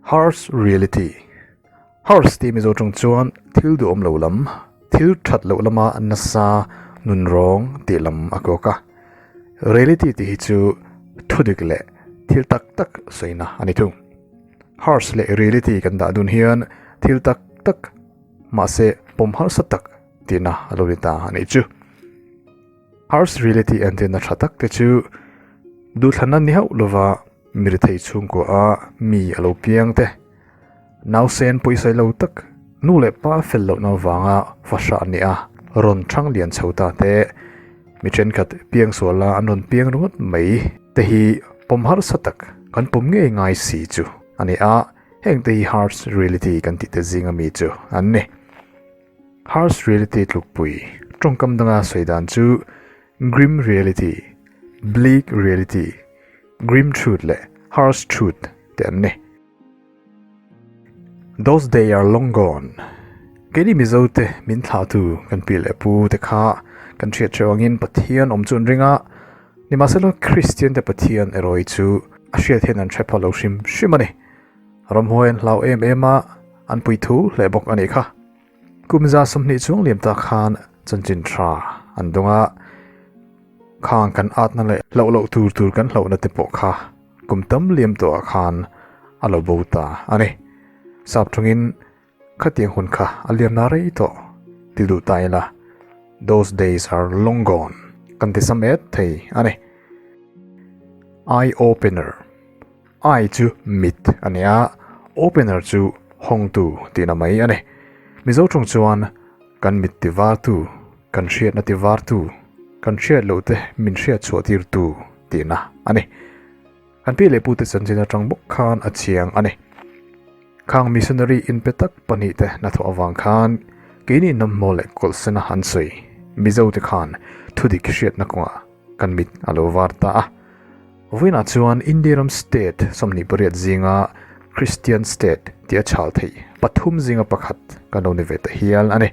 Harsh Reality Harsh tih Mizo ṭawng chuan thil duh awm lo lam, thil ṭhat loh lama nasa, nun rawng tih lam a kawk a. Reality tih hi chu thudik leh thil tak tak sawiina a ni thung. Harsh leh Reality kan dahdun hian thil tak tak mahse pawm harsat tak tina a lo ni ta a nih chu Harsh reality entirna tha tak te chu duhthlanna ni hauh lova mi ri thei chhungkaw a mi a lo piang te nausen pawisaih lo tak nu leh pa fel loh na vanga fahra a ni a rawn thang lian chho ta te mi thenkhat piang suala an rawn piang ringawt mai te hi pawm harsa tak kan pawm ngei ngai si chu a ni a hengte hi Harsh reality kan tih te zing a mi chu an ni. Harsh Reality tlukpui tawngkam danga sawi dan chu Grim Reality, Bleak Reality, Grim Truth leh Harsh Truth te an ni. Those day are long gone. Keini Mizo te min thlahtu kan pi leh pu te kha kan hriat ṭheuh angin Pathian awm chu an ring a, nimahselaw Kristian te Pathian erawh hi chu a hriat hian an ṭha pha lo hrim hrim a ni. Ramhuai an hlau em em a, an pui thu hle bawk a nih kha. Kumza sawmhnih chuang liam ta khan chanchin tha an dawng a, khang kan atna leh hloh loh tur tur kan hloh na te pawh kha kum tam liam tawh ah khan a lo bo ta a ni. Sap thawngin. Khatiang hun kha a liam na rei tawh, ti duh ta ila, those days are long gone kan ti sa met thei a ni. Eye opener, eye chu mit a ni a, opener chu hawngtu tihna mai a ni. Mizo tawng chuan kan mit ti vartu, kan hriatna ti vartu, kan hriat loh te min hriat chhuah tirtu tihna a ni. An pi leh pu te chanchin atang bawk khan a chiang a ni. Khang missionary in pe tak pahnih te hnathawh avang khan keini nawmhmaw leh kawlsena an sawi. Mizo te khan thudik hriatna kawngah kan mit a lo var ta a. Vawiinah chuan India ram state sawmhnih pariat zinga Christian state tia chhal theih pathum zinga pakhat kan lo ni ve ta hial a ni.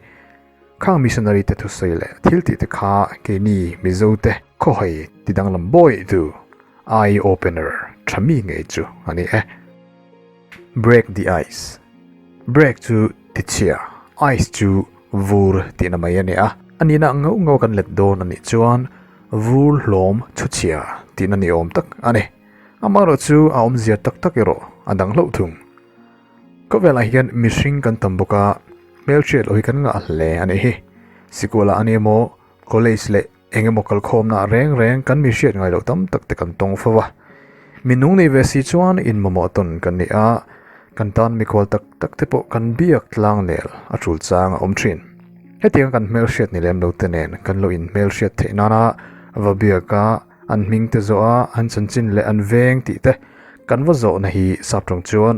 Khang missionary te thusawi leh thil tih te kha keini Mizo te khaw hai ti danglam bawih du eye opener tha mi ngei chu a ni e. Break the ice. Break chu tichhia, ice chu vur tihna mai a ni a. A nihna ngauh ngauh kan let dawn a nih chuan vur hlawm chhuchhia tihna ni awm tak a ni. Amaherawhchu a awmzia tak tak erawh a dang hlauh thung. Khawvelah hian mihring kan tam bawk a, hmelchhiatloh hi kan ngah hle a nih hi. Sikul ah a ni emaw, college leh eng emaw kal khawmna ah reng reng kan mi hriat ngailo tam tak te kan tawng fo va. Min nung nei ve si chuan in mamawh tawn kan ni a, kan tan mikhual tak tak te pawh kan biak tlang nel a tul chang a awm thin. Hetiang kan hmelhriat ni lem lo te nen kan lo in hmelhriat theih nana va biak a, an hming te zawh a an chanchin leh an veng tih te kan va zawh na hi sap tawng chuan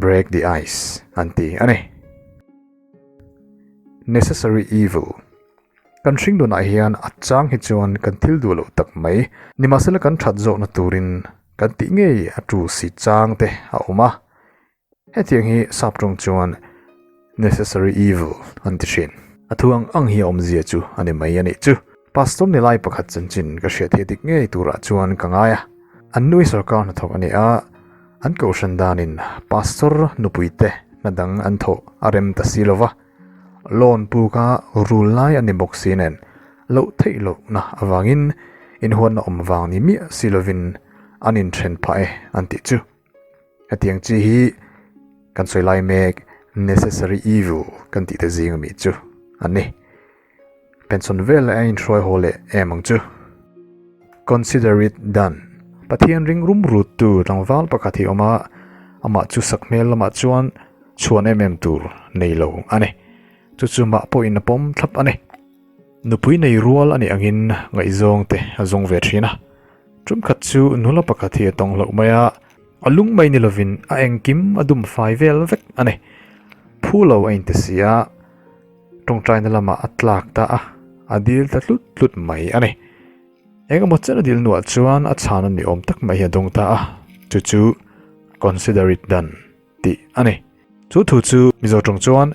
break the ice an ti a ni necessary evil kan hring dun ah hian a chang hi chuan kan thil duh loh tak mai ni mahse la kan that zawh na turin kan tih ngei a tu si chang te a awm a. Hetiang hi Sap tawng chuan necessary evil an ti thin. A thu ang ang hi a awmzia chu a ni mai a nih chu. Pastor ni lai pakhat chanchin ka hriatthei dik ngei turah chuan ka ngai a. An nui sawrkar hnathawk a ni a, an kohhran danin Pastor nupuite hna dang an thawh a rem ta si lo va. Lawn puka rul lai a ni bawk si nen, loh theih lohna avangin inhuatna awm vang ni miah si lovin an inthen phah e an tih chu. Hetiang chi hi kan sawi lai mek necessary evil kan tih te zing a mi chu a ni. Penchhawn vel a inhruai haw leh em ang chu. Consider it done. Pathian ring rum rut tu tlangval pakhat hi awm a, amah chu sak hmel lamah chuan chhuan em em tur nei lo a ni. Chu chu mah pawhin a pawm thlap a ni. Nupui nei rual a nih angin ngaihzawng te a zawng ve thin a. Ṭumkhat chu nula pakhat hi a tawng hlauh mai a, a lung mai ni lovin a engkim a dum fai vel vek a ni. Phu lo a inte si a, ṭawngṭaina lamah a tlak ta a, a dil ta hlut hlut mai a ni. Engemaw chen a dil nuah chuan a chhana ni awm tak mai hi a dawng ta a, chu chu consider it done. tih a ni. Chu thu chu Mizo tawng chuan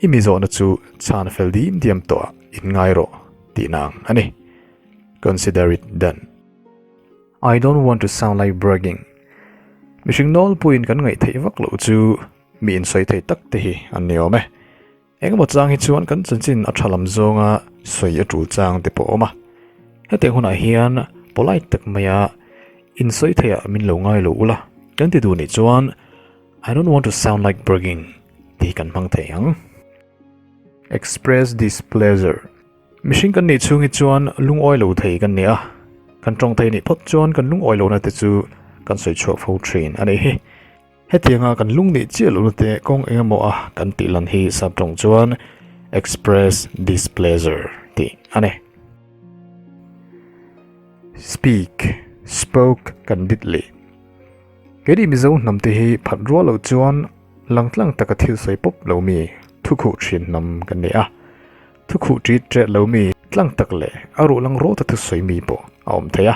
i mi zawhna chu chhan fel dîm diam tawha in ngai rawh tih na ang a ni. Consider it done. I don't want to sound like bragging. Mihring nawlpuiin kan ngaih theih vak loh chu mi insawi thei tak te hi an ni awm e. Engemaw chang hi chuan kan chanchin a tha lam zawnga sawi a tul chang te pawh a awm a. Hetiang hunah hian polite tak maia insawi theih ah min lo ngailo ula, kan ti duh nih chuan I don't want to sound like bragging tih kan hmang thei ang. Express displeasure. Mihring kan nih chhung hi chuan lungawi lo thei kan ni a, kan tawng thei nih phawt chuan kan lungawi lohna te chu kan sawi chhuah fo thin a nih hi. Hetianga kan lung nih chiah lohna te kawng eng emaw a kan tih lan hi subtawng chuan express displeasure tih a ni. Speak, spoke kan dit leh. Keini Mizo hnam te hi phat rual loh chuan lang tlang taka thil sawi pawp lo mi thukhuh ṭhin hnam kan ni a. Thukhuh ṭit ṭialh lo mi tlang tak leh a ruh lang rawt a thusawi mi pawh a awm thei a.